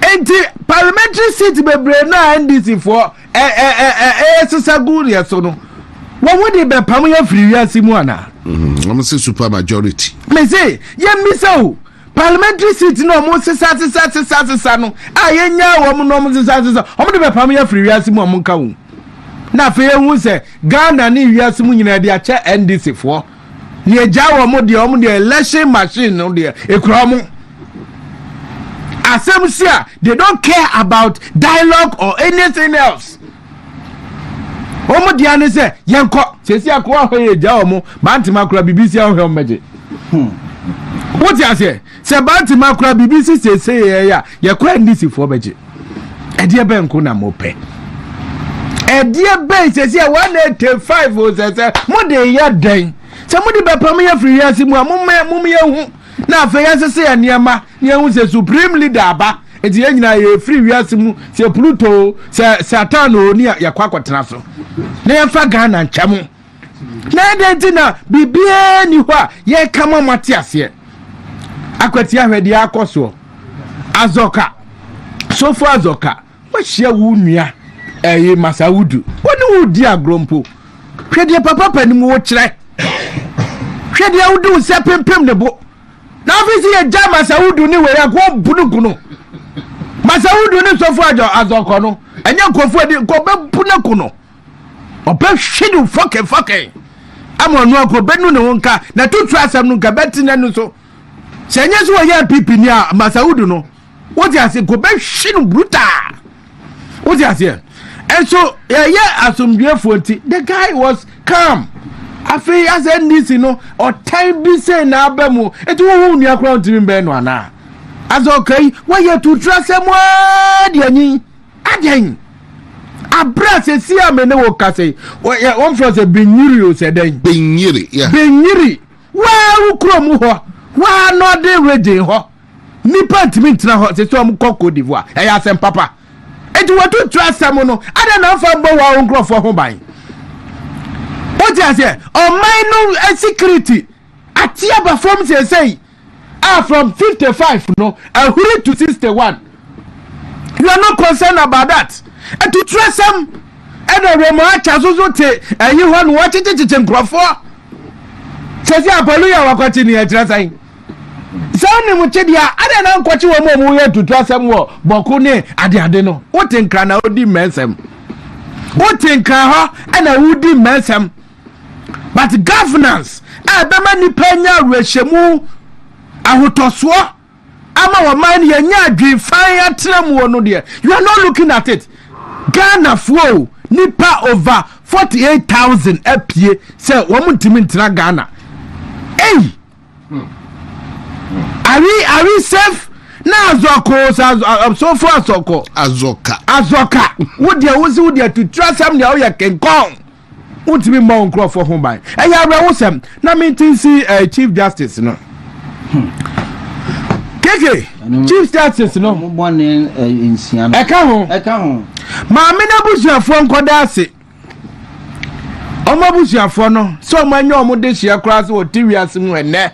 Enti parliamentary seat bebree no a NDC foɔ ɛresesa gu deɛ so no, wɔn ho de bɛpam yɛ firi wiase mu anaa? Mm-hmm. Wɔn sɛ super majority. Mese yɛn bisa o parliamentary seat na wɔn sesa sesa sesa sesa no a yɛn nya wɔn na wɔn sesa sesa wɔn de bɛpam yɛ firi wiase mu wɔn nka ho. Na afei ehu sɛ Ghana ne wiase mu nyinaa de akyɛ NDC foɔ. Deɛ agya wɔn deɛ wɔn deɛ election machine no deɛ ekura wɔn asɛm si a they don't care about dialogue or anything else wɔn deɛ ne sɛ yɛn kɔ sɛsi akɔ ahɔ yɛ agya wɔn bantama akora bibi si ahɔ yɛ wɔn bɛgye wote aseɛ. Sɛ Bantama koraa biribi si seesei yɛyɛ a, yɛkɔ a NDCfoɔ bɛgye. Ɛdeɛ bɛn nko na mopɛ? Ɛdeɛ bɛn sɛsi a 185 o sɛ sɛ mode yɛ dɛn? Sɛ mode bɛpam yɛ firi wiase mu a momyɛ hu na afei yɛnsese yɛ nneɛma na yɛhu sɛ supreme leader aba nti yɛn nyinaa yɛfiri wiase mu sɛ pluto sɛ satan o ne yɛkɔ akɔtena so na yɛmfa ghana nkyɛ mo na ɛdɛn nti na biribiara nni hɔ a yɛreka ma moate aseɛ akwati ahwɛ deɛ akɔ soɔ azɔka sofo azɔka wahyia wo nua ɛyi eh, masa wodu wo ne wo di agorɔ mpo hwɛ deɛ papa panim wo kyerɛ hwɛ deɛ wode wo sɛ pempem ne bo na afei sɛ yɛgya masa wodu ne wei akoa bununku no masa wodu ne sofo azɔkɔ no ɛnyɛ nkɔfoɔ adi nkɔbɛbu no ko no ɔbɛhwe no fɔkɛfɔkɛ ama ɔno anka ɔbɛnu ne ho nka na tutu asɛm no nka bɛte n'ano so sɛ ɛnyɛ sɛ wɔyɛ npp ni a masawudu no wote ase nka ɔbɛhwe no brutaa wote aseɛ nso ɛyɛ asomdwoefoɔ nti the guy was calm afei asɛ ndc no ɔtan bi sɛ na aba mu ɛti wohu nua koraa ntumi bɛn no anaa asɛ ɔka yi wɔyɛ tutu asɛm aa deɛ nyi Adɛn? Aberɛ a sesie a me ne wo kasa yi, wɔmfrɛ sɛ Binyiri o sɛ dɛn? Binyiri, yeah. Binyiri, waa wo kurom hɔ, waa Northern region hɔ, nnipa ntumi ntena hɔ, sɛ sɛ wɔn kɔ Cote d'Ivoire, ɛyɛ asɛm papa. Eti wɔtutu asɛm no, adɛn na wɔmfa mbɔ wɔn nkurɔfoɔ ho ban? Wote aseɛ, ɔman no security Ate aba fam seesei a from fifty five no ahuri to sixty one. You are not concerned about that. Atuturasɛm ɛna Remo Acha so so te ɛyi hɔ no wɔkyekyekyekye nkurɔfoɔ. Sɛsi apɔlu yɛ wɔkɔkye ne ɛkyerɛ sɛn? Sɛ wonim kyedeɛ a adɛn na nkɔkye wɔn a wɔyɛ atuturasɛm wɔ bɔko ne adeade no? Wote nkra na wodi mmɛnsɛm. Wote nkra hɔ ɛna wodi mmɛnsɛm. But governance a ɛbɛma nnipa anya awerɛhyɛmu, ahotɔsoɔ ama wɔman no yɛnyɛ adwene fann atena mu no deɛ, you are not looking at it. Ghanafoɔ o, nipa over 48,000 apue sɛ wɔn ntumi ntena Ghana. Ei! Are we, are we safe? na azɔko sofo asɔkɔ azɔka azɔka wo deɛ wo si wo deɛ tutura sɛm deɛ woyɛ kenkɔn Wontumi mmɔ wo nkurɔfoɔ ho ban. Ɛyɛ awerɛhosɛm. Na mente nsi eh, Chief Justice no. Keke, Chief Justice no. Eh, Ɛka ho. Ɛka ho. Maame no abusuafoɔ nkɔda ase. Wɔn abusuafoɔ no sɛ wɔn anya wɔn de hyia koraa sɛ wɔte wiase mu ɛnɛ.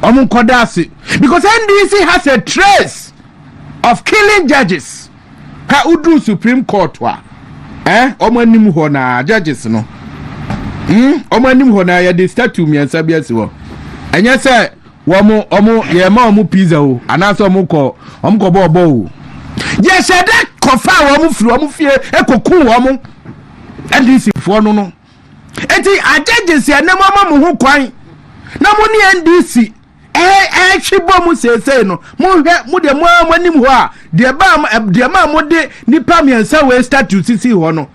Wɔn nkɔda ase. Because NDC has a trace of killing judges. ha woduru supreme court a eh wɔn anim hɔ na judges no hmm wɔn anim hɔ na yɛde statue mmiɛnsa bi asi hɔ ɛnyɛ sɛ wɔn wɔn yɛma wɔn pizza o anaasɛ wɔn kɔ wɔn kɔ bɔɔl bɔɔl o yɛhyɛ dɛ kɔfa wɔn firi wɔn fie ekoku wɔn ndc foɔ no no eti ajɛgyesi ɛnam ama mo ho kwan na mo ne ndc. ɛretwe bɔ mu seesei no, monhwɛ, mo deɛ mo ara mo anim hɔ a, deɛ baa deɛ maa mo de nipa mmiɛnsa wei statue sisi hɔ no,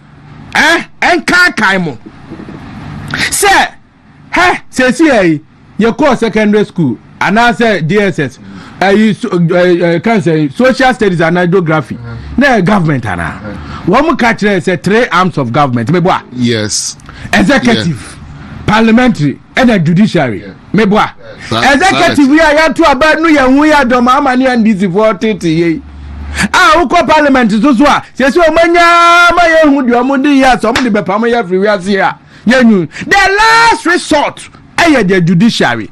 ɛn ɛnkankan mo sɛ hɛ seesei ɛyi yɛkɔɔ secondary school anaasɛ dss ɛyi ɛɛ kan sɛ social studies anaa geography na ɛyɛ government anaa wɔn mo ka kyerɛ sɛ three arms of government mɛ bɔ a. yes executive yeah. parliamentary ɛna judiciary. Yeah. meboa executive yi a yɛato aba nu yɛn ho yɛ adɔm ama ne ndisifoɔ tete yei a wokɔ parliament so so a sɛsi ɔmanya ma yɛhu deɛ ɔmode yɛ a sɛ ɔmode bɛpam yɛ afiri wiase a yɛnwu the last resort ɛyɛ the judiciary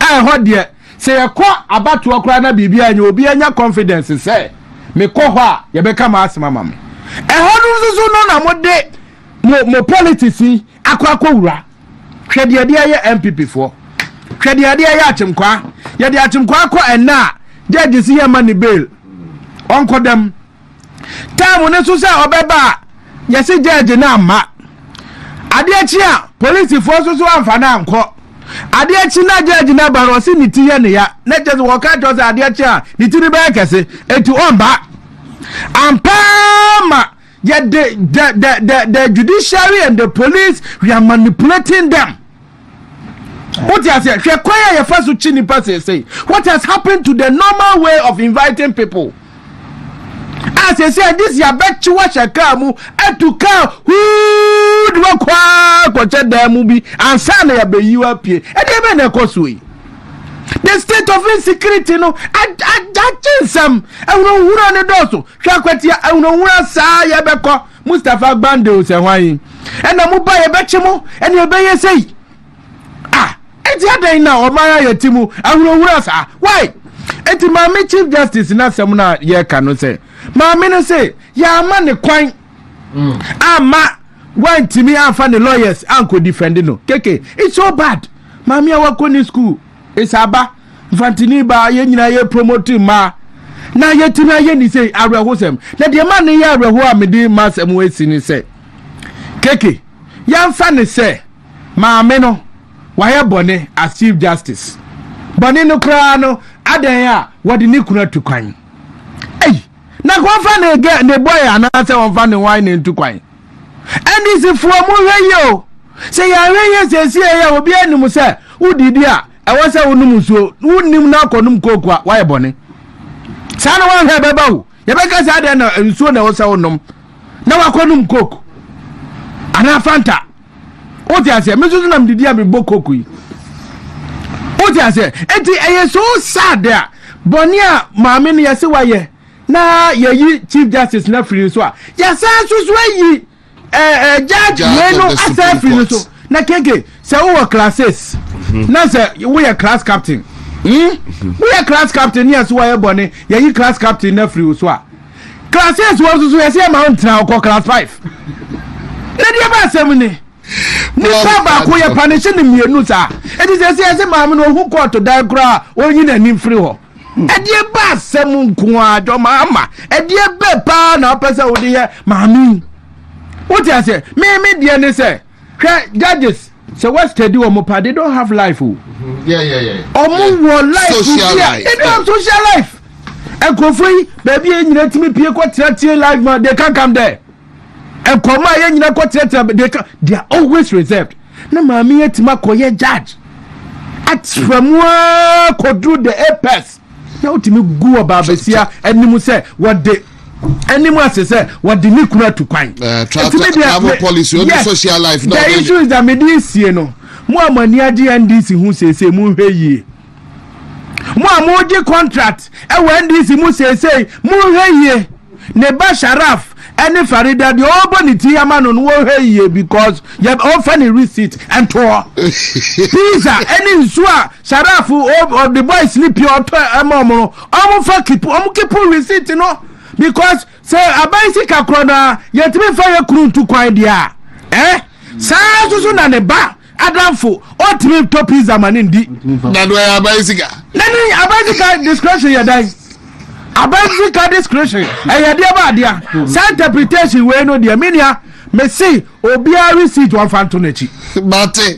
a ɛhɔ deɛ sɛ yɛkɔ abatoɔ koraa na biribi anyɛ obi anya confidence sɛ mekɔ hɔ a yɛbɛka ma asɛm ama me ɛhɔ no nso so no na mode mo mo politics yi akɔ akɔwura Hwɛ deɛ ɛde ayɛ NPP foɔ. Hwɛ deɛ ɛde ayɛ Akyemkwaa. Yɛde Akyemkwaa kɔ ɛnɛ a gyɛɛgye si yɛmma ne bail. Ɔnkɔ dɛm. Time no nso sɛ ɔbɛba a yɛse gyɛɛgye no amma. Adeɛ kye a polisifoɔ nso so amfa no ankɔ. Adeɛ kye na gyɛɛgye no aba no ɔse ne ti yɛ ne ya. Na kyɛ sɛ wɔka kyerɛ sɛ adeɛ kye a ne ti no bɛyɛ kɛse. Enti ɔmba. Ampaa ma yɛ de the the the the judiciary and the police we are manipulating them wote aseɛ hwɛ kwan a yɛfa so kyi nipa seesei what has happened to the normal way of inviting people a seesei this yɛabɛkye wahyɛ kaa mu atu kaa huu de wakɔa kɔkyɛ dan mu bi ansa na yɛabɛyi wa pie ɛdeɛ bɛn na ɛkɔ so yi the state of insecurity no agye nsɛm ɛhunahuna ne dɔɔso Hwɛ kwatia ahunahuna saa yɛbɛkɔ Mustapha Gbande o sɛ hwan yi ɛna mo ba yɛbɛkye mo ɛne ɛbɛyɛ sei ah eti adɛn na ɔman ayɛ ti mu ahunahuna saa why eti maame chief justice n'asɛm na yɛka no sɛ maame no sɛ yɛama ne kwan mm. ama wantumi anfa ne lawyers ankɔ defend no keke it's so bad maame a wakɔ ne school Esiaba, Mfantini baa, yɛn nyinaa yɛ promote mmaa na yɛtumi ayɛ ne sei awerɛhosɛm. Na deɛ ma ne yɛ awerɛho a mede m'asɛm asi ne sɛ, keke yɛmfa ne sɛ maame no wayɛ bɔne as Chief Justice. Bɔne no koraa no, adɛn a wɔde ne kunu atu kwan? Ei, na wɔmfa ne, ne boy anaasɛ wɔmfa ne hwan na ntu kwan? NDC foɔ mo hwɛ yie o sɛ yɛanhwɛ yie siesie yɛ obiara nim sɛ wodii bi a ɛwɔ sɛ wonom nsuo wonim na akɔnom kooko a wayɛ bɔne saa na wanhwɛ ɛbɛba wo yɛbɛka saa deɛ na nsuo na ɛwɔ sɛ wonom na wakɔnom kooko anaa fanta wote aseɛ me nso so nam didi a mebɔ kooko yi wote aseɛ enti ɛyɛ so sad a bɔne a maame no yɛse wayɛ na yɛyi chief justice no afiri no so a yɛsan nso so ayi ɛɛ ɛɛ judge wei no asan afiri no so na keke sɛ wowɔ classes mhm. na sɛ woyɛ class captain hmm? woyɛ class captain ne yɛso wayɛ bɔne yɛyi class captain no afiri wo so a classes wɔ nso so yɛsɛ yɛma wo ntena wokɔ class five na deɛ ba asɛm ne nipa baako yɛ panishe ne mmienu saa ɛti sɛ sɛ yɛsɛ maame no ɔhu kɔɔto dan koraa ɔnyi n'anim firi hɔ ɛdeɛ ba asɛm nko ara dɔ ma ama ɛdeɛ bɛ paa na wopɛ sɛ wode yɛ maame yi wote aseɛ meme deɛ ne sɛ hwɛ judges sɛ westadi wɔn pa they don't have life o ɔmo wɔ life bi a they don't have social life nkurɔfoɔ yi baabi a nyina tumi pie kɔ tena tie life ma they can come there nkɔmɔ a yɛn nyinaa kɔ tenatena they can they are always reserved na maame yɛ tìma kɔ yɛ judge atira mu aa kɔduru the apex na wotumi gu wɔ baabasia anim sɛ wɔde anim ase sɛ wɔde ne kunu atu kwan. Eh, ɛtumi deɛ travel policy ɔdi social life na ɔbɛyɛ. the issue is that mede esie no mo a mo ani agye ndc ho sese mo nhwɛ yie. Mo a moregye contract wɔ NDC mu seesei, monhwɛ yie. Ne ba Sharaf ne Farida deɛ ɔrebɔ ne ti ama no no wɔnhwɛ yie because yɛ ɔmfa ne receipt nto hɔ. Pizza ne nsuo a Sharaf ɔde boys no pie ɔtɔ ma wɔn no, wɔmfa keep wɔn keep receipt no because sɛ aban sika korɔ no a yɛntumi mfa yɛ kunu ntu kwan deɛ a, eh? Saa nso so na ne ba. Adamfo, ɔntumi ntɔ pizza ma ne ndi. Na do ɛyɛ aban sika. Na ne aban sika discretion yɛ dan. Aban sika discretion ɛyɛ deɛ ba adea. Saa interpretation wei no deɛ me nua mese obiara receipt wɔmfa nto n'akyi. Mate.